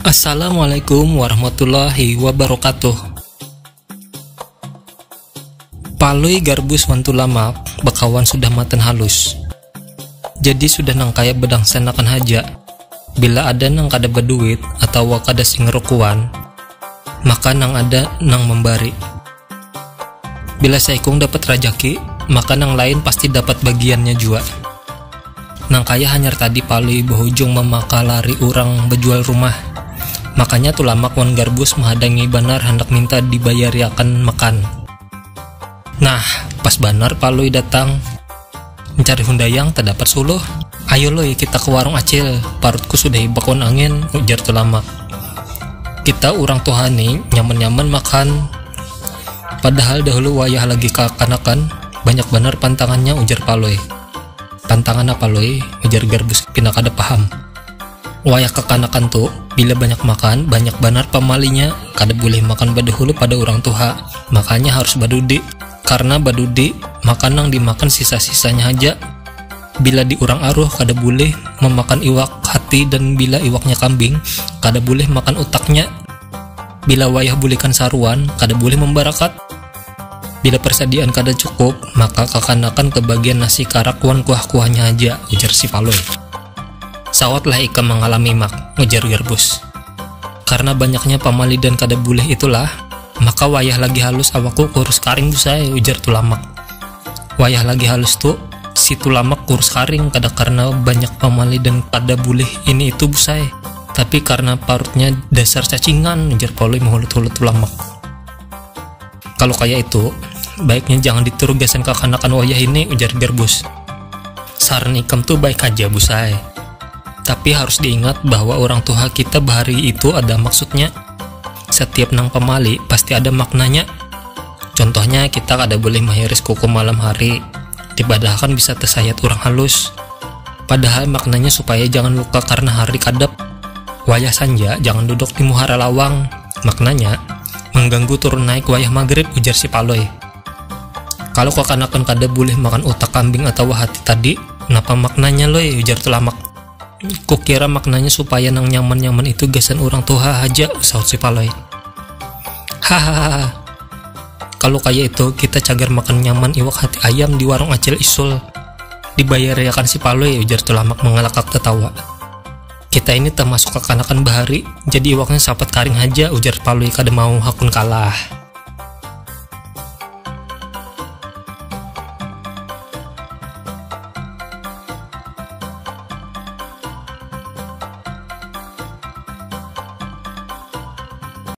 Assalamualaikum warahmatullahi wabarakatuh Palui Garbus wan Tulamak bakawan sudah matan halus. Jadi sudah nang kaya bedangsenakan haja, bila ada nang kada beduit atawa kada sing rukuan, maka nang ada nang membari. Bila saikung dapat rajaki, maka nang lain pasti dapat bagiannya jua. Nang kaya hanyar tadi Palui bahujung mamakalari urang bejual rumah, makanya Tulamak wan Garbus mahadangi banar handak minta dibayariakan makan. Nah, pas banar Palui datang. Mencari Hundayang tadapat suluh. Ayo Lui, kita ke warung Acil, parutku sudah hibak wan angin, ujar Tulamak. Kita urang tuha ni nyaman-nyaman makan, padahal dahulu wayah lagi kakanakan banyak banar pantangannya, ujar Palui. Pantangan apa Lui? ujar Garbus pina kada paham. Wayah kakanakan tu, bila banyak makan, banyak banar pamalinya, kada bulih makan badahulu pada urang tuha, makanya harus badudi, karna badudi makan nang dimakan sisa-sisanya haja, bila di urang aruh kada bulih mamakan iwak hati dan bila iwaknya kambing kada bulih makan utaknya, bila wayah bulikan saruan kada bulih mambarakat. Bila persadiaan kada cukup, maka kakanakan ke bagian nasi karak wan kuah-kuahnya haja, ujar si Palui. Sawatlah ikam mangalami Mak, ujar Garbus. Karna banyaknya pamalidan kada bulih itulah, maka wayah lagi halus awakku kurus karing Bus ai, ujar Tulamak. Wayah lagi halus tu, si Tulamak kurus karing kada karna banyak pamalidan kada bulih ini itu Bus ai, tapi karna parutnya dasar cacingan, ujar Palui mahulut-hulut Tulamak. Kalau kaya itu, baiknya jangan ditiru gasan kakanakan wayah ini, ujar Garbus. Saran ikam tu baik haja, Busai. Tapi harus diingat bahwa urang tuha kita bahari itu ada maksudnya. Satiap nang pamali pasti ada maknanya. Contohnya kita kada boleh mahiris kuku malam hari, dipadahakan bisa tasayat urang halus. Padahal maknanya supaya jangan luka karna hari kadap. Wayah sanja jangan duduk di muhara lawang. Maknanya, mangganggu turun naik wayah magrib, ujar si Palui. Kalau kakanakan kada bulih makan utak kambing atawa hati tadi, napa maknanya Lui? ujar Tulamak. Kukira maknanya supaya nang nyaman-nyaman itu gasan urang tuha haja, sahut si Palui. Hahahaa, kalau kaya itu kita cagar makan nyaman iwak hati ayam di warung Acil Isul, dibayariakan si Palui, ujar Tulamak mangalakak tatawa. Kita ini tamasuk kakanakan bahari, jadi iwaknya sapat karing haja, ujar Palui kada mau hakun kalah.